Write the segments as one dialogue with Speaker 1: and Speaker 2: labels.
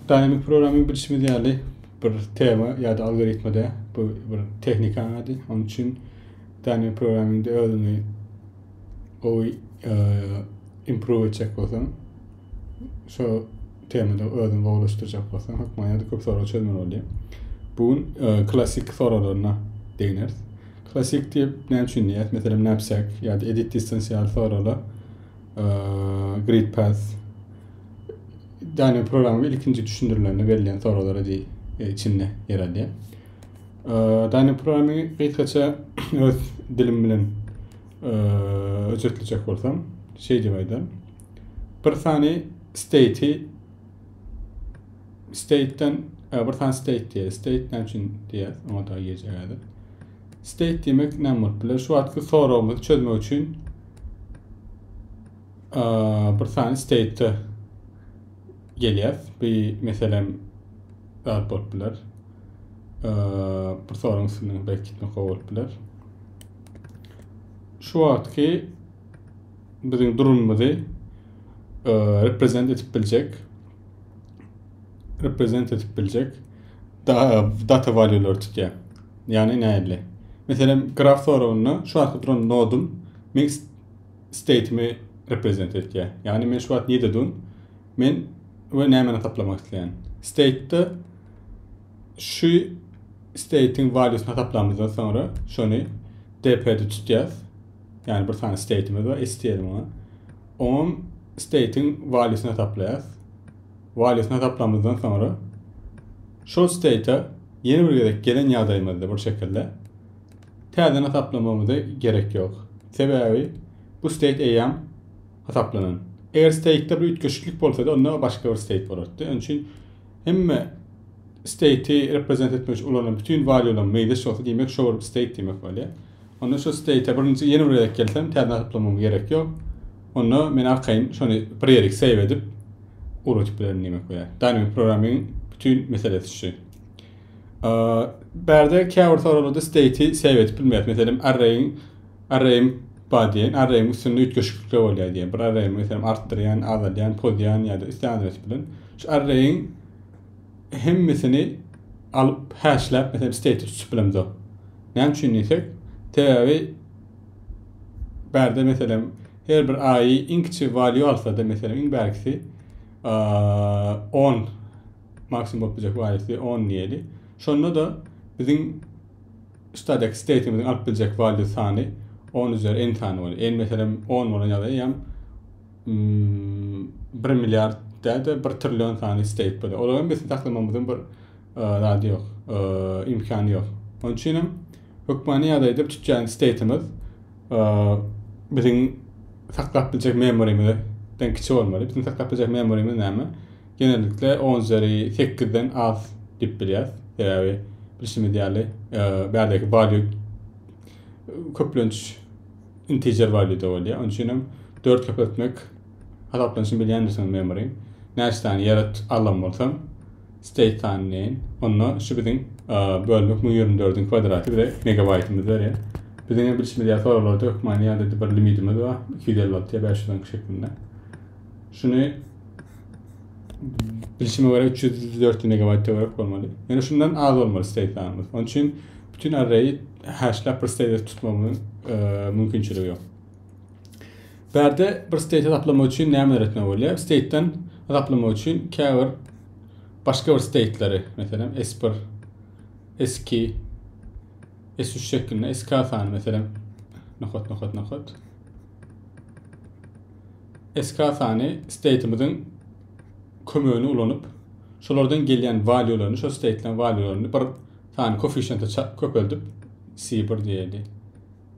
Speaker 1: Dynamic programming bilşimiz ýaly bir tema ýa-da algoritmada bu bir tehnika ady. Onun üçin dynamic programmingde özüňi gowy e, improve etjek bolsaň, şu temada özüňi gowulaşdyrjak bolsaň, hökman ýa-da köp sorag çözmeli bolýar. Bu gün e, klasik soraglaryna degneris. Klasik diýip näme üçin diýýäs? Meselem, knapsack ýa-da edit distance ýaly soraglar Great Pass Daniel programma ilkinji düşündirilenini belleyen soruları di e, içinde yer alýar. Daniel programma gysgaça öz dilim bilen özetleýjek bolsam, şey diýip aýdar. Bir sany state state'den bir sany state diýär. State näme üçin diýär? Oňa da geçelim. State diýmek näme bolup biler? Şu wagtky soragymyzy çözmek üçin bir sany state gelýär. Bu meselem zat bolup biler. Bir soragyň üstünden belki gitmek bolup biler. Şu wagtky biziň durumumyzy reprezent edip biljek reprezent edip biljek data valýulary tutýar. Ýagny nähili? Meselem, graf soragynda şu wagtky duran nodum men state'imi reprezent edýär. Ýagny men şu wagt nirede durýan? Men we nämäni taplamak isleýän? State'de şu state'iň valýusyny hasaplamazdan soňra şony DP-de tutýas. Ýagny bir sany state'imiz bar, STL-iň. Oňam state'iň valýusyny hasaplaýas. Walýusyny hasaplamyzdan soňra şol state-a ýene bir gezek gelen ýagdaýymyzda bir şekilde täzeden hasaplamamyza gerek ýok. Sebäbi bu state eýýam hasaplanan. Eger state-de bir üýtgeşiklik bolsady onda başga bir state bolardy. Onuň üçin hemme state-i reprezent etmek üçin ulanan bütin walýulam meýzeş bolsa diýmek şo bir state diýmek bolýar. Onda şu steýte birinji ýene bir gezek gelsem täzeden hasaplamama gerek ýok. Onda men arkaýyn şony prerix save edip ugradyp bilerin diýmek bolýar. Dynamic programming bütin meselesi şu. Bärde käbir soraglarda steýti save edip bilmeýär. Meselem arraýiň arraýim bar diýen, arraýiň üstünde üýtgeşiklikler bolýar diýen. Bir arraýy meselem artdyrýan, azaldýan, pozýan ýa-da isleýän adres bilen şu arraýiň hemmesini alyp häşläp meselem state tutsup bilemizok. Näme üçin diýsek, sebäbi bärde meselem her bir aýy iň kiçi value alsa-da meselem iň bärkisi 10 maksimum bolup biljek valuesi 10 diýeli. Şonda da biziň static state'imiziň alyp biljek value sany 10 üzeri n sany bolýar. N meselem 10 bolan ýagdaýda ýa bir milliard däde bir trillion sany isteýip böyle. Olaryň bizi saklamamyzyň bir zady ýok, imkany ýok. Onun üçin hem hökmany ýagdaýda tutýan state'imiz biziň saklap biljek memorymyzdan kiçi bolmaly. Biziň saklap biljek memorymyz näme? Genellikle 10 üzeri 8-den az diýip bilýäris. Sebäbi bilşimiz ýaly bärdeki value köplenç integer value-da bolýar. Onuň üçin hem 4 köpeltmek hasaplanyşyny bilýändirsiňiz memory. Näçe sany ýarat alan bolsam, state sany deýin. Onda şu biziň bölmek 1024-iň kwadraty bize megabaýtymyzy berýär. Biziň hem bilşimiz ýaly soraglarda hökmany ýa-da bir limitimiz bar, 256 ýa 512 şeklinde. Şuny bilşime göre 300-400 megabaýta görek bolmaly. Ýöne şundan az bolmaly state sanymyz. Onuň üçin Bütin arraýi häşläp bir steýte tutmagyň mümkinçiligi ýok. Bärde bir steýte taplamak üçin nämeler etmek bolýar? Steýtden taplamak üçin käbir başga bir steýtleri, meselem S1, S2, S3 şeklinde SK sany meselem nokat nokat nokat SK sany steýtimiziň kömegini ulanyp şolardan gelýän valýularyny, şo steýtleň valýularyny bir Sany koeffisiýenti ça köpeldip si bir diýeli.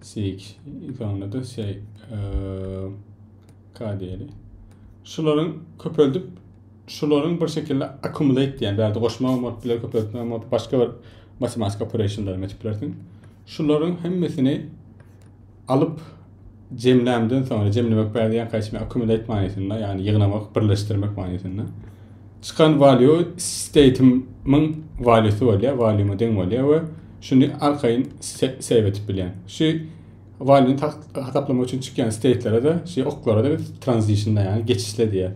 Speaker 1: Si iki soňunda şey k diýeli. Şularyň köpeldip şularyň bir şekilde accumulate diýen bärde goşma bolup biler köpeltme bolup başga bir matematik operationlar etip bilersiň. Şularyň hemmesini alyp jemlämden soňra jemlemek bädýän kaçma accumulate manysynda ýagny ýygnamak birleşdirmek manysynda çykan value state'imiň valuesy bolýar value'ma deň bolýar we şuny arkaýyn save etip bilýän şu value'ni hasaplamak üçin çykýan state'lere de şu oklara da biz transition ýagny geçişle diýýär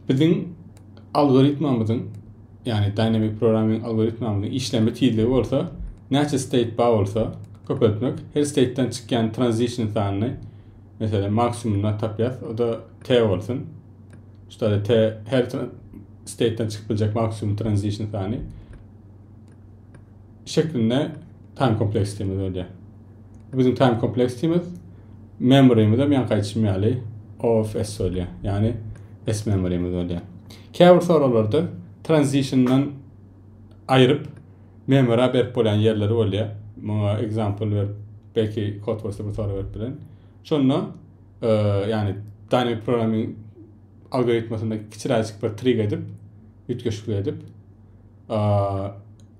Speaker 1: biziň Algoritmamyzyň, ýagny Dynamic Programming algoritmamyzyň işlenme tizligi bolsa, näçe state bar bolsa, köpeltmek, her state-den çykýan transition sanyny, meselem, maksimumyna tapýas, o-da T bolsun. Şuda-da T her state-den çykyp biljek maksimum transition sany. şeklinde time kompleks diýmez öýdýär. Biziň time kompleks diýmez memorymiz hem ýaňky aýtşym ýaly OFS öýdýär. Ýagny S memorymiz öýdýär. Käbir soraglarda transitiondan aýryp memory berip bolýan ýerleri bolýar. Muňa example berip belki kod bolsa bir sorag berip bilen. Şonda e, ýagny dynamic programming algoritmasynda kiçiräjik bir trig edip, üýtgeşiklik edip,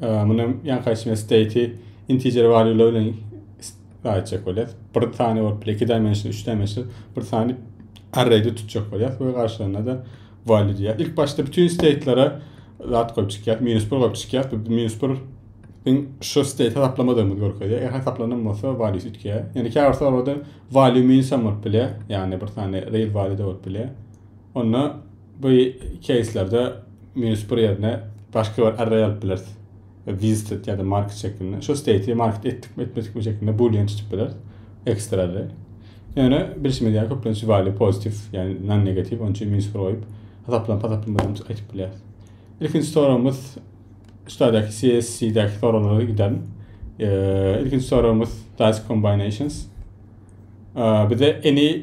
Speaker 1: Muny hem ýankaýsy bilen state integer value bilen aýtjak bolýar. Bir sany bolup, iki dimension, üç dimension, bir sany array'de tutjak bolýar we garşylaryna da value diýýär. Ilk başda bütün state'lere zat goýup çykýar, minus 1 goýup çykýar. Bu minus 1 biň şu state hesaplamadygymyz görkezýär. Eger hesaplanan bolsa value üýtgeýär. Ýöne käbir soragda value minus hem bolup bilýär. Ýagny bir sany real value da bolup bilýär. Onda Bu keýslerde minus bir ýerine başga bir array alyp bileris. Visited ýa-da market şeklinde. Şu state'i market etdikmi, etmedikmi şeklinde boolean tutip bileris. Ekstra array. Ýöne bilşimiz ýaly köplenç value pozitif, ýagny non negativ, onuň üçin minus bir goýup, hasaplan hasaplanmadan aýtyp bilýäris. Ilkinji soragymyz şudaky CSC-däki soraglara gidelim. Ilkinji soragymyz dice combinations. Bize any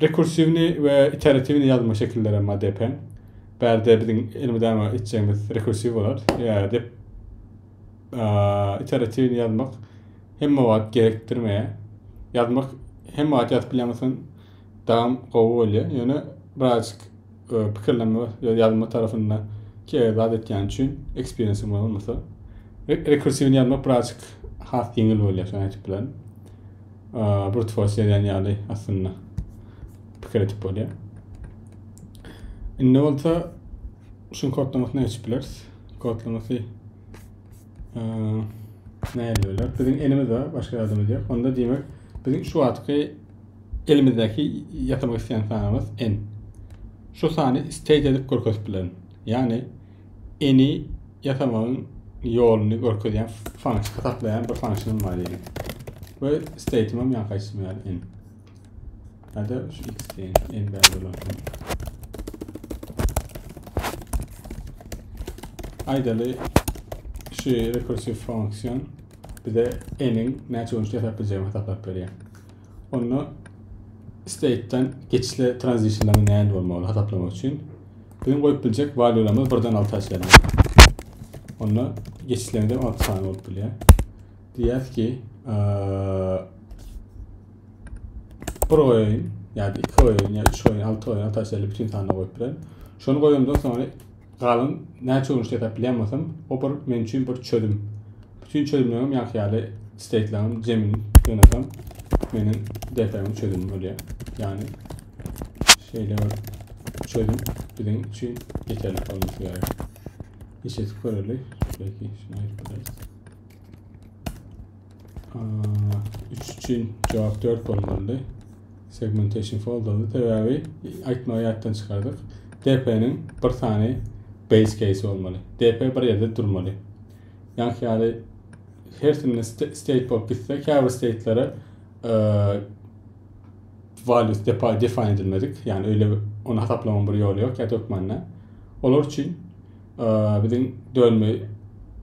Speaker 1: Rekursiwny we iteratiwny ýazma şekilleri emma depäň. Bärde biziň elmydama etjegimiz rekursiw bolar. Ýa dep iteratiwny ýazmak hemme wagt gerekdirmeýär. Ýazmak hemme wagt ýazyp bilýänsoň dagam gowy bolýar. Ýöne birazjyk pikirlenme we ýazma tarapynda kerek zat etýän üçin eksperiensiň bolmasa rekursiwny ýazmak birazjyk has ýeňil bolýar şony aýdyp bilerin brut force ýazýan ýaly aslynda pikir edip bolýar indi bolsa şuň kodlamasyny açyp bileris kodlamasy näýeli bolar biziň elimiz bar başga adamyz ýok onda diýmek biziň şu wagtky Elimizdäki ýasamak isleýän sanymyz n. Şu sany stage edip görkezip bilerin. Ýagny n-i ýasamagyň ýoluny görkezýän function, hasaplaýan bir function bar diýeliň. We state'im hem ýaňky aýtdym ýaly n. Ýa-da şu x diýen n bäri bolar. Aýdaly şu rekursiw function bize n-iň näçe görnüşde ýasap biljegini hasaplap berýär. Onda state-den geçişle transitionlaryň nähili bolmagyny hasaplamak üçin biziň goýup biljek valýularymyz birden alta çenli. Onda geçişlerinde altı sany bolup bilýär. Diýýäs ki, bir goýaýyn, ýa-da iki goýaýyn, ýa üç goýaýyn, altı goýaýyn, alta çenli bütün sanlar goýup bilerin. Şony goýandan soňra Galyn näçe gün işlese plenmasam o bir men üçin bir çözüm. Bütün çözümlerim ýaňky ýaly steýtlerim jemin ýönetem meniň dertlerim çözüm bolýar. Ýani şeýle bir çözüm biziň üçin ýeterlik bolmasy gerek. Işe göreli belki şuna ýetmez. 3 üçin cevap 4 bolmalydy. Segmentation folderda sebäbi aýtmagy ýatdan çykardyk. DP-niň bir sany base case bolmaly. DP bir ýerde durmaly. Ýaňky ýaly hersinde state bolup gitse, käbir statelere e, values define edilmedik. Yani öyle onu hasaplamanın bir yolu yok ya dökmanına. Olar için biziň dönme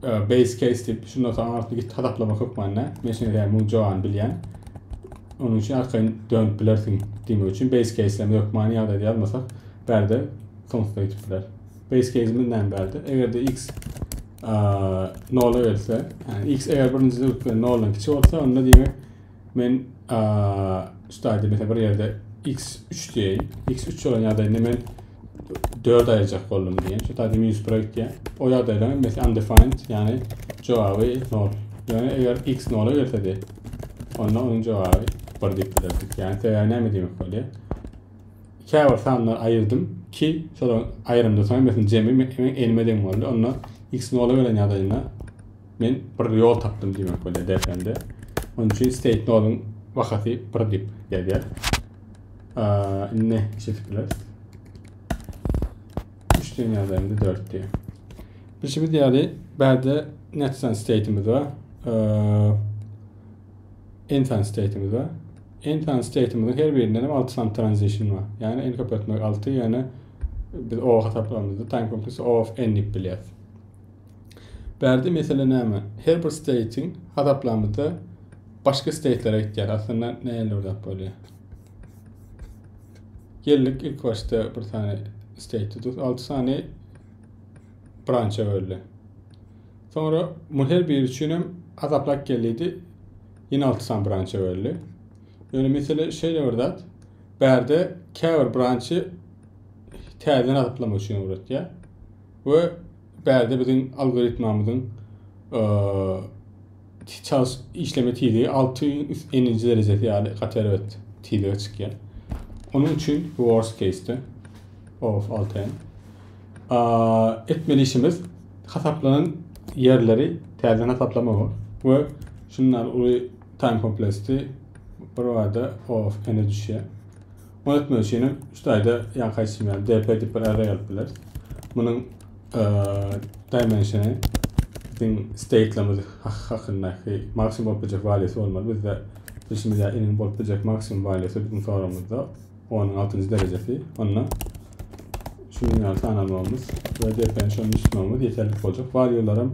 Speaker 1: base case diýip şundan soň arasynda git hasaplamak hökmanda men şeýle diýen muň jogany bilýän onuň üçin arkaýyn dönüp bilersiň diýmek üçin base case-leme hökmany ýagdaýda ýazmasak bärde soňsuza ýetipdiler base case-imiz näme bärde eger-de x nola gelse yani x eger birinjide ötüp bilen noldan kiçi bolsa onda diýmek Men stadyýa mesela bir ýerde x üç diýeýin. x üç bolan ýagdaýynda men dört aýyrjak boldum diýen. Şu taýda minus bir öýtýär. O ýagdaýda mesela undefined, ýagny jogaby nol. Ýöne eger x nola gelsedi, onda onuň jogaby bir diýip bilerdik. Ýagny sebäbi näme diýmek bolýar? Käbir sanlar aýyrdym ki, şol aýrymda soň mesela jemi men elime deň boldy. Onda x nola gelen ýagdaýynda Men bir ýol tapdym diýmek bolýar DFM-de. Onuň üçin state node-yň bahasy 1 diýip gelýär. Indi işe bileris. 3 den ýazanda 4 diýär. Bilşimiz ýaly, bärde netsan state-imiz bar. Ensan state-imiz bar. Ensan state-imiziň her birinden hem 6 sany transition bar. Ýagny n köpeltmek 6, ýagny biz o hasaplamamyzda time complexity of n diýip bilýäris. Bärde mesele näme? Her bir state-iň hasaplamada başga state-lere gitýär. Aslynda nähili bir zat bolýar? Geldik ilk başda bir sany state tutup, 6 sany brancha böldi. Sonra bu her biri üçin hem hasaplap geldi. Ýene 6 sany brancha böldi. Ýöne mesele şeýle bir zat. Bärde käbir branchy täzeden hasaplamak üçin öwretýär. we Bärde biziň algoritmamyzyň çals işleme tizligi alty üst eninci derejesi ýaly gaty erbet tizlige çykýar. Onuň üçin bu worst case-de of alty etmeli işimiz hasaplanan ýerleri täzeden hasaplamak we şundan uly time komplesti bir wada of ene düşýär. Ony etmek üçin hem şu taýda ýaňky aýtşym ýaly dp diýip bir array alyp bileris. Munuň dimensiony biziň state'lerimiz hakyndaky maksimum bolup biljek waliýasy bolmaly. Bizde bilşimiz ýaly iniň bolup biljek maksimum waliýasy biziň soragymyzda 10-nyň 6-njy derejesi. Onda şu minimal sany almagymyz we dp-ni şonuň tutmagymyz ýeterlik boljak. Waliýalar hem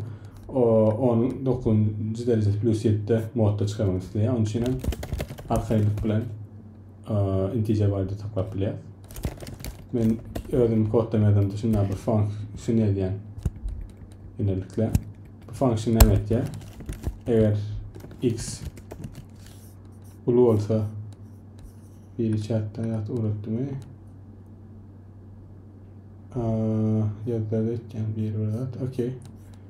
Speaker 1: 10-nyň 9-njy derejesi plus 7-de modda çykarmak isleýär. Onuň üçin hem arkaýynlyk bilen integer value saklap bilýär. Men özüm koddan ýazamda şunda bir function ýazýan. Ýönelikle bu function näme etýär? Eger x uly bolsa biri çatdan ýat ugrutdymy? Ýazda etýän bir bir zat. Okey.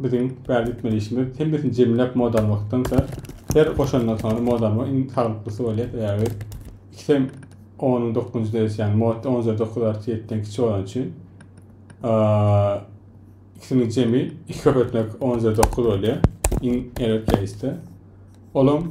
Speaker 1: Biziň bärde gitmeli işimiz hemmesini jemläp moda almakdansa her goşandan soňra moda almak iň saglyklysy bolýar sebäbi ikisem onuň dokuzynjy derejesi ýagny modda on üzeri dokuz artiýa ýetiden kiçi bolany üçin ikisini jemi iki köp etmek on üzeri dokuz bolýar iň erbet keýsde olam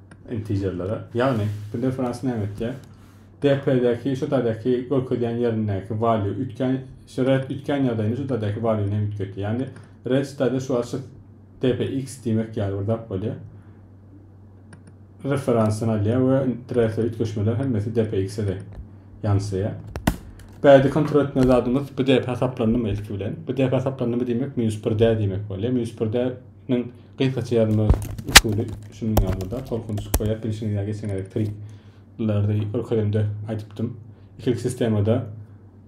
Speaker 1: intejerlere. Ýagny bu difference näme etýär? DP-däki şu taýdaki görkezýän ýerindäki value üýtgän şu red üýtgän ýagdaýynda şu taýdaki value-ny hem üýtgetýär. Ýagny red şu taýda şu açyk dpx diýmek ýaly bir zat bolýar. Referensyny alýar we red-e üýtgeşmeler hemmesi dpx-e de ýansaýar. Bärde kontrol etmeli zadymyz bu dp hasaplandymy ilki bilen. Bu dp hasaplandymy diýmek minus 1-dä diýmek bolýar. Minus 1-dä-niň Gysgaça ýazma usuly şunuň ýalyda, tolkun çykyp goýýar, bilşiňiz ýa geçen gezek trikleri görkezemde aýdypdym. Ikilik sistemada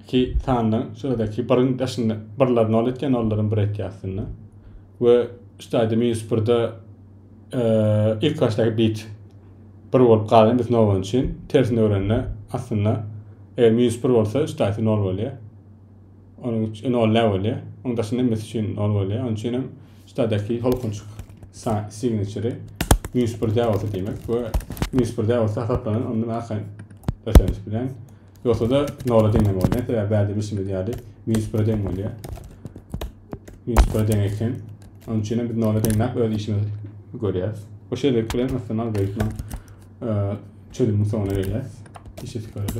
Speaker 1: iki sandan şuradaki biriň daşynda birler nol etýär, nollaryň bir etýär aslynda. We şu taýda minus birde e, ilk başdaky bit bir bolup galan biz nol bolan üçin tersine öwrende aslynda eger minus bir bolsa şu taýda nol bolýar. Onuň üçin nol ne bolýar? Onuň daşynda hemmesi üçin nol bolýar. Onuň üçin hem Şitadaky holkunçuk signature minus bir däwesi diýmek we minus bir däwesi hasaplanan ondan arkaýyn öseniş bilen ýogsa-da nola deňem bolýar. Sebäbi bärde bilşimiz ýaly minus bire deň bolýar. Minus bire deň eken. Onun üçin biz nola deňläp öz işimizi görýäs. Bu şeýlelik bilen aslynda algoritmiň çözüminiň soňuna gelýäs. Işi sikardy.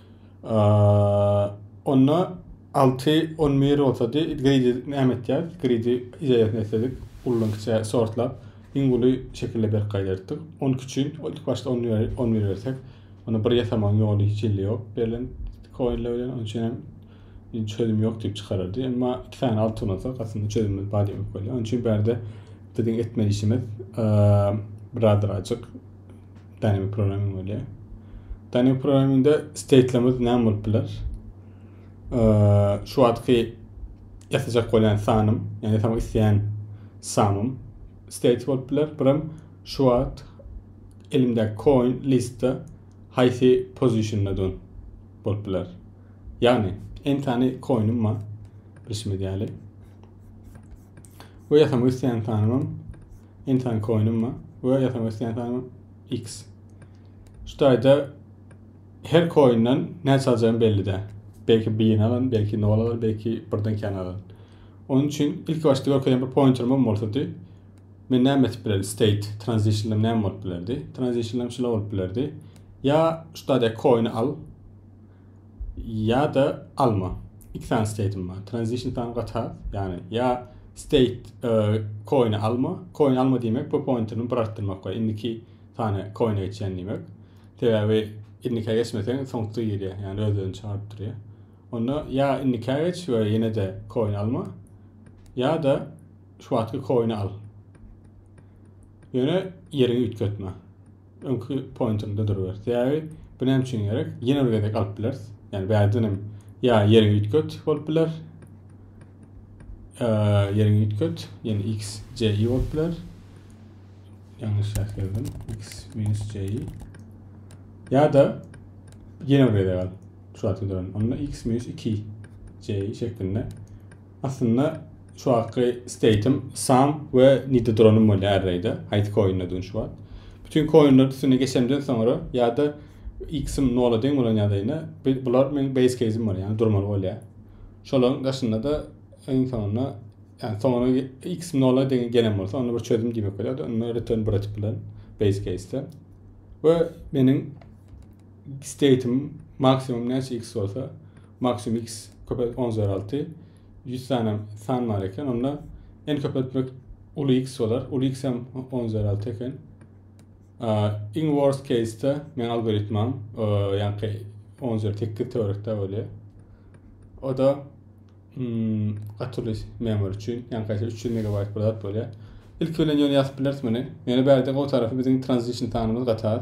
Speaker 1: Onda alty on bir bolsady gridi näme etýäris gridi ideýasyny etsedik ullan kiçä sortlap iň uly şekilde berk gaýdardyk on küçün ilk başda on bir on bir bersek ony bir ýasamagyň ýoly hiç hili ýok berlen koinler bilen onuň üçin hem çözüm ýok diýip çykarardy emma iki sany alty ulansak aslynda çözümimiz bar diýmek bolýar onuň üçin bärde biziň etmeli işimiz biraz ajyk Dynamic programming bolýar. Dynamic programmingde state'lerimiz näme bolup biler? Şu wagtky ýatajak bolýan sanym, ýani ýasamak isleýän sanym state bolup biler. Birim şu wagt elimde coin listda haýsy pozisyonda dur bolup biler. Ýani en tane coinim bar. Bilşimiz ýaly. Bu ýasamak isleýän sanymym Entan koinimma we FMS entan X. Şu taýda her koinden näçe aljagyň belli däl. Belki birini alan, belki nol alan, belki birden kän alan. Onun üçin ilk başda görkezen bir pointerim hem bolsady. Men näme etip bilerdim? State, transition'ım näme bolup bilerdi? Transition'ım şula bolup bilerdi. Ya şu taýda koini al, ýa da alma. Iki sany state'im bar. Transition sany gatar, ýagny ýa state e, coin alma. Coin alma diýmek bu pointerini bir artdyrmak we indiki sany coin'e geçýän diýmek. Sebäbi indiki geçmeseň soňky girýär, ýagny özlerini çagyryp durýar. Onda ýa indiki geç we ýene-de coin alma, ýa da şu wagtky coin'i al. Ýöne ýeriňi üýtgetme. Öňki pointinde duruber. Sebäbi bu näme üçin gerek? Ýene bir gezek alyp bileris. Ýani bärden hem ýa ýeriň üýtget bolup biler. Ýeriň üýtget, ýani x, y bolup biler. Ýalňyş ýazdım. x minus y. Ýa da ýene bir gezek al. Şu wagtky duran. Onda x minus 2 y şeklinde Aslynda şu wagtky state'im Sam we Nidodronym bolýar array'da. Haýsy koindedigini şu wagt. Bütün koinler üstüne geçemden soňra ýa-da x-im nola deň bolan ýagdaýynda bular meniň base case'im bolýar, ýagny durmaly bolýar. Şolaryň daşynda-da iň soňunda ýagny soňuna x-im nola deň gelen bolsa, onda bir çözüm diýmek bolýar. Onda return bir açyp bilerin base case'de. We meniň state'im maksimum näçe x bolsa, Maksimum X köpelt on üzeri alty. Ýüz sany san bar eken. Onda n köpeltmek uly X bolar. Uly X hem on üzeri alty eken. Iň worst case-de men algoritmam, ýaňky on üzeri tekiz töwerekde bolýar. O da hmm, gatyly memory üçin, ýaňky üç ýüz megabayt bir zat bolýar. Ilki bilen ýöne ýazyp bileris muny. Ýöne bärde gowy tarapy biziň transition sanymyz gaty az.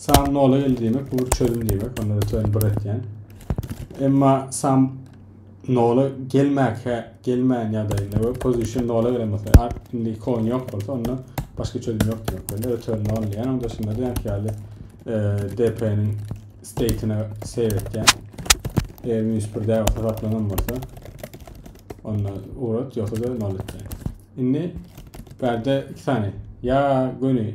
Speaker 1: Sam nola geldi diýmek bu bir çözüm diýmek onda öte öni bir etýän. Emma sam nola gelmäkä gelmän ýagdaýynda we position nola gelen bolsa art indi kon ýok bolsa onda başga çözüm ýok diýmek bolýar. Return nol diýen onda şunda diýen ýaly e, DP-niň state-ine save etýän. Eger minus 1 däl bolsa saplanan bolsa onda urat ýoksa da nol etýän. Indi bärde iki sany ýa göni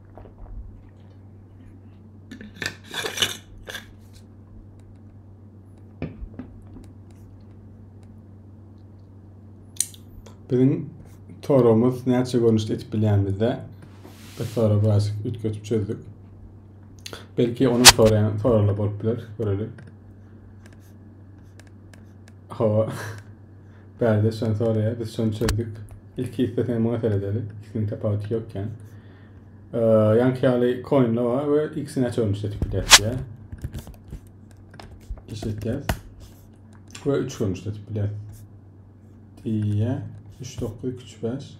Speaker 1: Biziň torumuz näçe görnüşde etip bilýänimizde bir tora biraz üýtgetip çözdük. Belki onun soraýan soralar bolup biler, görelim. Hawa. Bärde şony soraýar, biz şony çözdük. Ilki isteseň muňa seredeli. Ikisiniň tapawuty ýok ýan. Ýanki ýaly koinle bar we ikisini näçe görmüş etip bilýäs diýä. Iş etýäs. Ve 3 görmüş etip bilýäs. Diýä. 3 9 2 3 5.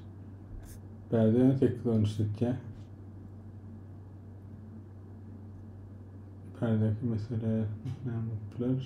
Speaker 1: Bärde 8 görmüş etýä. Bärdeki mesele näme bolup biler?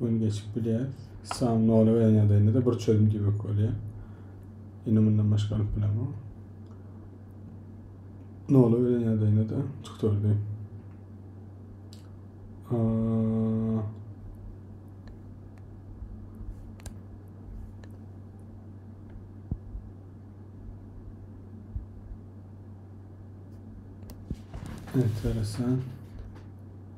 Speaker 1: Gün geçip bilýär. Sam nola gelen ýagdaýynda-da bir çözüm diýmek bolýar. Indi mundan başga alyp bilemok. Nola gelen ýagdaýynda-da çykdyrdy. Enteresan.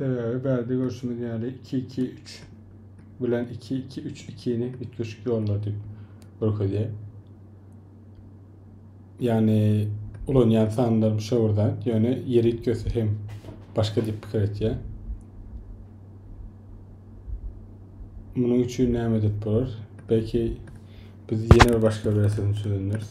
Speaker 1: Sebäbi bärde görşümiz ýaly 2-2-3 bilen 2-2-3-2-ni üýtgeşik ýollar diýip görkezýär. Ýagny ulanýan sanlar müşawirden, ýöne ýeri üýtgese hem başga diýip pikir etýär. Munuň üçin näme edip bolar? Belki biz ýene bir başga bir resetim çözündiris.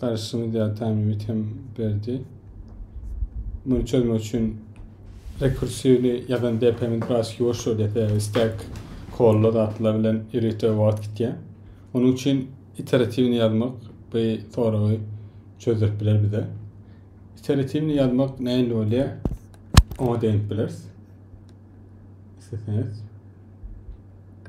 Speaker 1: Garyşymy diatamimit hem berdi. Muny çözmek üçin rekursivni ýazan DPM-ni biraz ýuwaşdyr dese, stack kolla zatlar bilen ýörite wagt gitýär. Onuň üçin iteratiwni ýazmak bu soragy çözdürip biler bize. İteratifini ýazmak nähili bolýar? Oňa degip bileris. Isleseňiz.